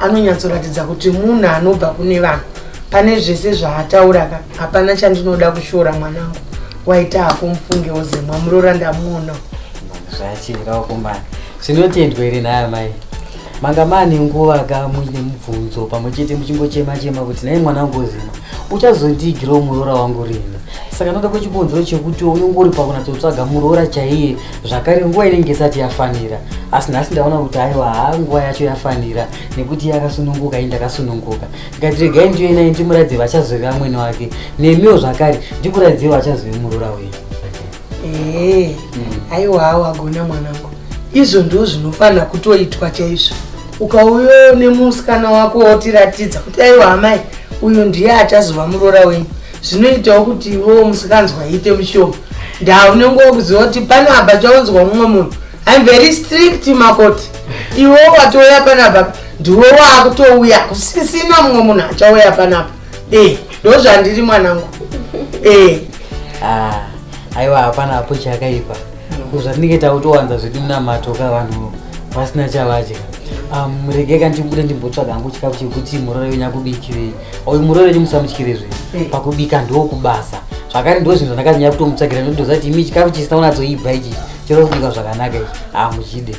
anonyatsoratidza kuti munhu anobva kune vanhu pane zvese zvaataura ka hapana chandinoda kushora mwanangu waita hako mufungewo zemwa murora ndamuonawo zvachiraukumana zvinotendwa iri naya mai manga mane nguva ka muine mubvunzo pamwe chete muchingochema chema kuti nai mwana wangu ozima uchazondiigirawo muroora wangu rini saka noda kwechibonzero chekuti unenge uri pakunatsotsvaga muroora chaiye zvakare nguva inenge isati yafanira asi nhasi ndaona kuti aiwa haa nguva yacho yafanira nekuti yakasununguka ini ndakasununguka ndikati regai ndiyo inai ndimuratidze vachazove amwene wake nemiwo zvakare ndikuratidzei vachazove murora wenyu ee aiwawo agona mwanangu izvo ndo zvinofanira kutoitwa chaizvo ukauyo nemusikana wako wotiratidza kuti aiwa amai uyu ndiye achazova murora wenyu zvinoitawo kuti iwewo musikanzwa ite mushoma ndaa unenge wokuziva kuti pano apa chaunzwa mumwe munhu im very strict makoti iwewo watouya panapa ndiwe waakutouya kusisina mumwe munhu achauya panapa e ndo zvandiri mwanangu e ah, aiwa hapana hapo chakaipa kuzvatinenge takutowanza zvedu munamato ka vanhu vasina chavadya um, regeka ndibude ndimbotsvaga hangu chikafu chekuti murore wenyakubikirei uyu murooreri musamutyire zve eh. pakubika ndokubasa zvakare ndo zvinhu zvandakanyanya kutomutsvagira ndotoziva kuti imi chikafu chisina unatsoibva ichi chero kubika zvakanaka ichi hamuchide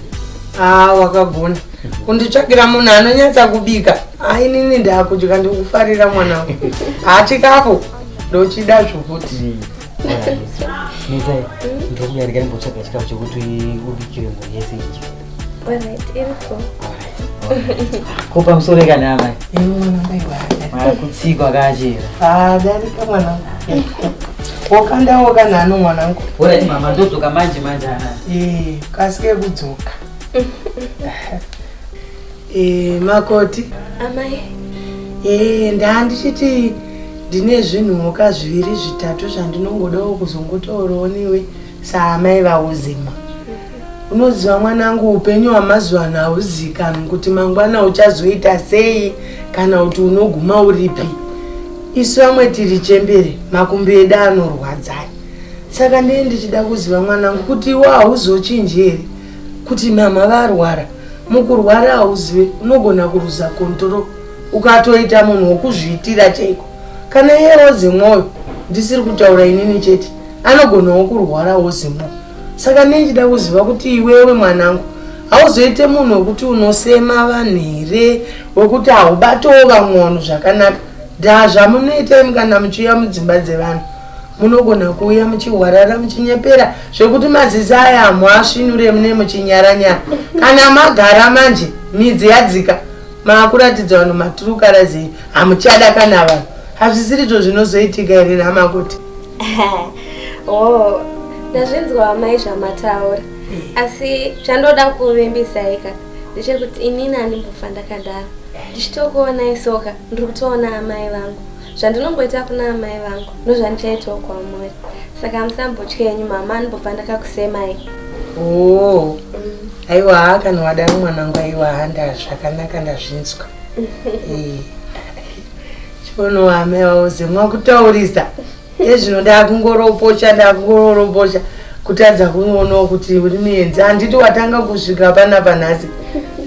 haa wakagona kunditsvagira munhu anonyatsa kubika ainini ndakudya ndikufarira mwana wa haa chikafu ndochida zvokuti hmm. ndokuyarika ndimbotsvaga chikafu chekuti ubikire munhu yese ichi ko pamusoro kana amai kutsikwa kachera adarika mwana wokandawo kana ano mwanangu orati mama ndodzoka manje manje ana ee kasike kudzoka ee makoti amai ee ndandichiti ndine zvinhuka zviviri zvitatu zvandinongodawo kuzongotaurawo niwe saamai vauzima unoziva mwanangu upenyu hwamazuva ano hauzikanwi kuti mangwana uchazoita sei kana kuti unoguma uripi isu vamwe tiri chembere makumbi edu anorwadzai saka ndee ndichida kuziva mwanangu kuti iwo hauzochinji here kuti mama varwara mukurwara hauzive unogona kuruza kontrol ukatoita munhu wokuzviitira chaiko kana iye woze mwoyo ndisiri kutaura inini chete anogonawo kurwara wozimuka saka nei chida kuziva kuti iwewe mwanangu hauzoite munhu wekuti unosema vanhu here wekuti haubatowo vamwe vanhu zvakanaka ndaa zvamunoita imi kana muchiuya mudzimba dzevanhu munogona kuuya muchihwarara muchinyepera zvekuti mazizi aya hamuasvinure mune muchinyaranyara kana magara manje midzi yadzika maakuratidza vanhu maturukarazei hamuchada kana vanhu hazvisirizvo zvinozoitika here namakoti oh ndazvinzwa amai zvamataura asi chandoda kuvimbisai ka ndechekuti inini andimbofa ndakadaro ndichitokuonai soka ndiri kutoona amai vangu zvandinomboita kuna amai vangu ndozvandichaitawo kwamuri saka musambotya yenyu mama andimbobva ndakakusemai oo aiwa haa kana wadaro mwanangu aiwa handa zvakanaka ndazvinzwa Chono ame auze mwakutaurisa ezvino ndakungoropocha ndakungorombocha kutadza kuonawo kuti uri muenzi handiti watanga kusvika pana panhasi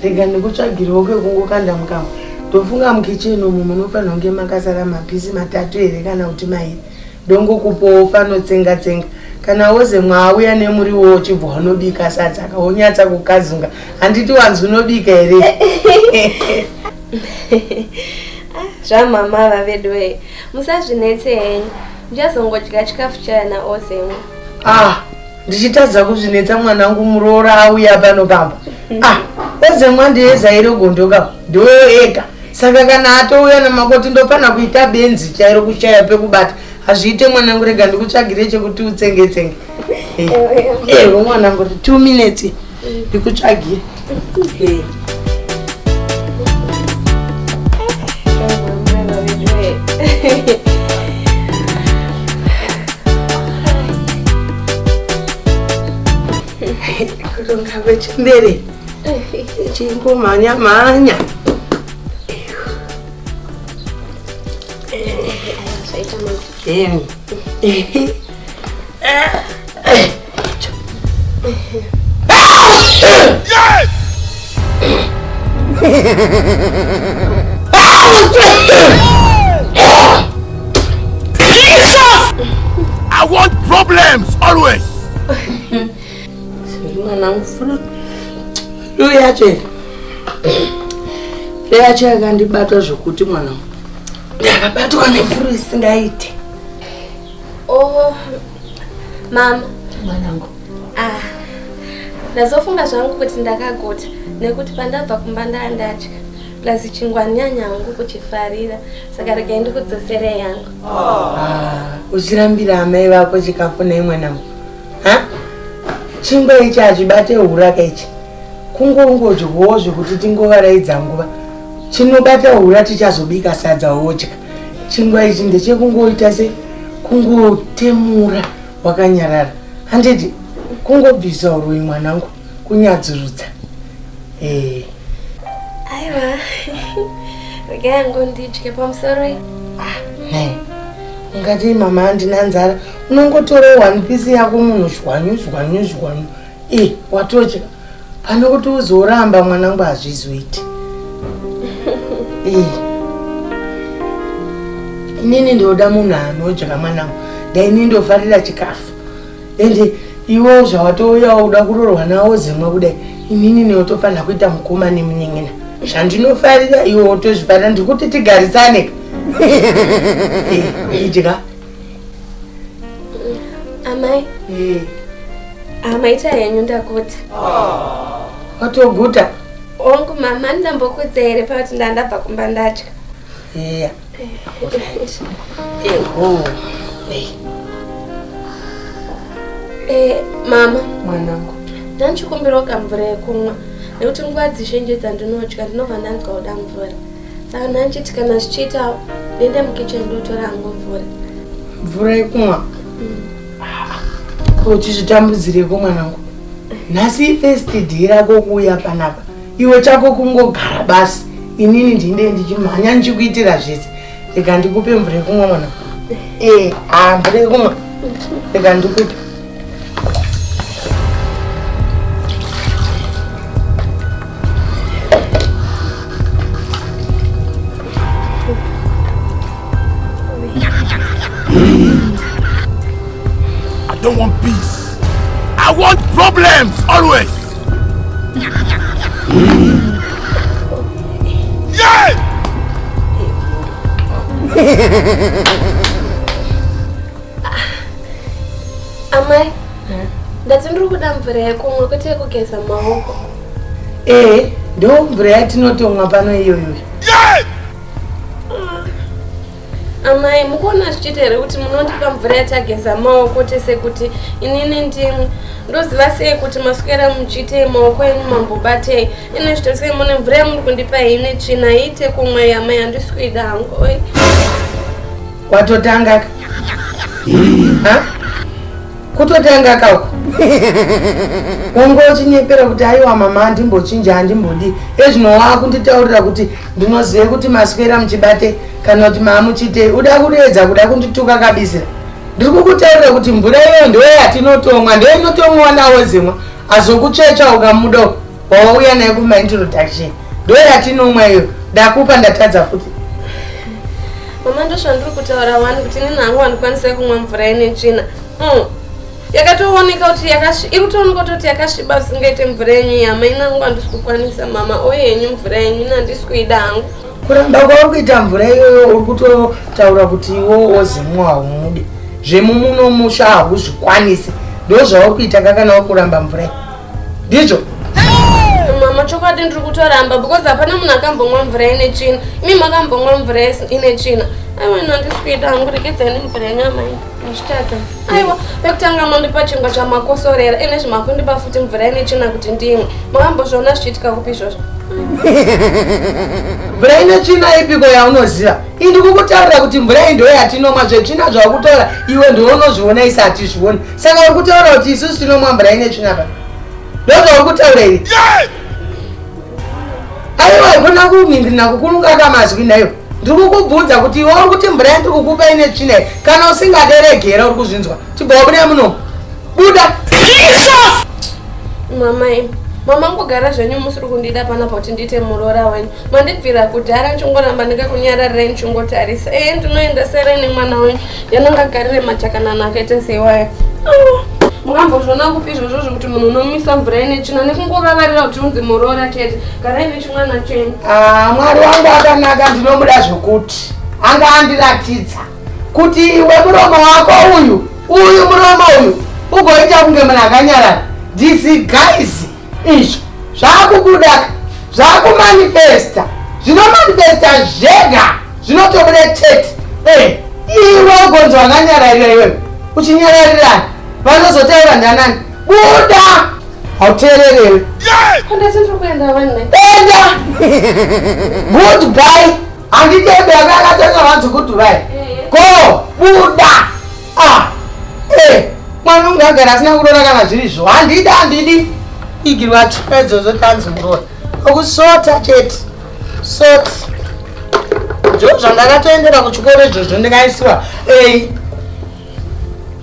rega ndikutsvagiriwo kwekungokanda mukama ndofunga mukicheni umu munofanira kunge makasara mapisi matatu here kana kuti mairi Dongo kupowo fano tsenga tsenga kana woze mwauya nemuriwo uchibva unobika sadza ka wonyatsa kukazunga handiti wanzi unobika here ah, zvamama vavedu wee musazvinetse henyu ndichazongodya chikafu chaya naozemwe ah ndichitadza kuzvinetsa mwana wangu muroora auya pano pamba ah ozemwa ndiyezairogondoka ndoyo ega saka kana atouya namakoti ndopana kuita benzi chairo kushaya pekubata hazviite mwanangu rega ndikutsvagire chekuti utsengetsenge ewe mwanangu ri two minutes ndikutsvagire kutonga kwechembere chingomhanya mhanya Damn. I want problems always. mwana mufuna iyo yacho yacho yakandibata zvokuti mwana ndakabatwa nefuru isingaite oh mama mwanangu ah ndazofunga zvangu kuti ndakaguta nekuti pandabva kumba ndaa ndatya plus chingwanyanya hangu kuchifarira saka regai ndikudzosere yangu ah, uchirambira amai vako chikafu nei mwanangu ha chingwa ichi hazvibate huraka ichi kungongodyowo zvekuti tingovaraidza nguva chinobata hura tichazobika sadza wodya chingwa ichi ndechekungoita se kungotemura wakanyarara handiti kungobvisa uroi mwanangu kunyadzurudza eh aiwa regai ngondidye pamusoro ah nei ungati mama handina nzara unongotora one piece yako munhu zhwanyu zhwanyu zhwanyu e eh, watodya pane kuti uzoramba mwanangu hazvizoiti e eh. inini ndoda munhu anodya mwanangu daini ndofarira chikafu ende iwewo zvawatouyawo uda kurorwa nawo zemwe kudai inini neotofanira kuita mukoma nemunin'ina zvandinofarira iwe otozvifarira ndikuti tigarisane idya amai amaita henyu ndakuti watoguta ongu mama ndambokuudza here pakuti ndandabva kumba ndatya Yeah. Alright. Eh, oh. Eh. Eh, mama mwanangu ndanchikumbirawo kamvura yekumwa nekuti nguva dzizhinji dzandinodya ndinobva ndanzwa kuda mvura saka ndanchiti kana zvichiitawo ndiende mukichen ndotora hangu mvura mvura yekumwa ko chizvitambudzireko mwanangu nhasi first day rako kuuya panapa iwe chako kungogara basi inini ndine ndichimhanya ndichikuitira zvese rega ndikupe mvura yekumwa mwana ee haa ah, mvura yekumwa rega ndikupe I don't want peace. I want problems always. amai ndati ndiri kuda mvura yekumwa kwete yekugeza maoko ee eh, ndo mvura yatinotomwa pano iyoyo Amai, mukuona zvichiita here kuti munondipa mvura yatageza maoko tese kuti inini ndimwe ndoziva sei kuti maswera muchiitei maoko enyu mambobatei ine zvito sei mune mvura yamuri kundipa ine tsvina iite kumwa yamai handisi kuida hangu oi watotanga kutotanga kako wanga uchinyepera kuti aiwa mama andimbochinja andimbodi ezvino waakunditaurira kuti Ndinoziva kuti maswera muchibate kana kuti maamuchitei. Uda kudeedza kuda kundituka kabisira. Ndiri kukutaurira kuti mvura iyoyo ndiyo yatinotomwa, ndiyo inotomwiwa nawo zimwa. Azokuchecha ukamuda wawauya naye kuma introduction. Ndiyo yatinomwa iyo. Ndakupa ndatadza futi. Mama ndozvandiri kutaura wani kuti nini hangu wandikwanisa kumwa mvura ine tsvina. Mm. yakatooneka kuti iri kutooneka kuti yakasviba zvisingaite mvura yenyu yama inangu handisi kukwanisa mama oye henyu mvura yenyu ina handisi kuida hangu kuramba kwauri kuita mvura iyoyo uri kutotaura kuti iwo wozimwa haumude zvemumuno musha hauzvikwanisi ndo zvauri kuita kakana uri kuramba mvura ndizvo mama chokwadi ndiri kutoramba because hapana munhu akambomwa mvura ine tsvina imi makambomwa mvura ine tsvina aiwa ino handisi kuita hangu rekedzai nemvura yenyu amai Ndichitadza. Aiwa, pekutanga mandipa chingwa chamakosorera, ene zvimakundipa futi mvura ine china kuti ndimwe. Makambozviona zvichiitika kupi izvozvo? mvura ine tsvina ipiko yaunoziva ii ndikukutarira kuti mvura iyi ndoyo yatinomwa zvetsvina zvakutora iwe ndiwe unozviona isi hatizvioni saka uri kutaura kuti isusu tinomwa mvura ine tsvina pa ndo zvauri kutaura iri aiwa ikona kumindirina kukunungaka mazwi nayo ndiri kukubvunza kuti iwe uri kuti mvura yandiri kukupa ine tsvina iyi kana usingaderegera uri kuzvinzwa chibva wabuda muno buda mamai mama ngogara zvenyu musiri kundida panapa kuti ndiite muroora wenyu mandibvira kudhara ndichingoramba ndikakunyararirai ndichingotarisa ee ndinoenda serai nemwana wenyu yanonga garire machakanana akaita seiwaya mukambozviona kupi izvozvo zvekuti munhu unomisa mvura ine tsvina nekungovavarira kuti unzi muroora chete garai mwana cheni ah, mwari wangu akanaka ndinomuda zvokuti anga andiratidza kuti iwe muromo wako uyu uyu muromo uyu ugoita kunge munhu akanyarara these guys izvo zvaakukudaka zvaakumanifesta zvinomanifesta zvega zvinotobuda chete eh, iwe ugonzi wakanyararira iwewe uchinyararirana vanozotaura ndanani Buda! Hauteererewe. Handati ndiri kuenda vanhu. Enda! Goodbye! Handidebe akakatanga vanzi goodbye. Eh, eh. Go! Buda! Ah! Eh! Mwana unge agara asina kurora kana zviri zvo. Handidi, handidi. Igirwa tshwedzo zvotanzi murora. Okusota chete. Sota. Zvo zvandakatoendera kuchikoro izvozvo ndikaisiwa. Ei!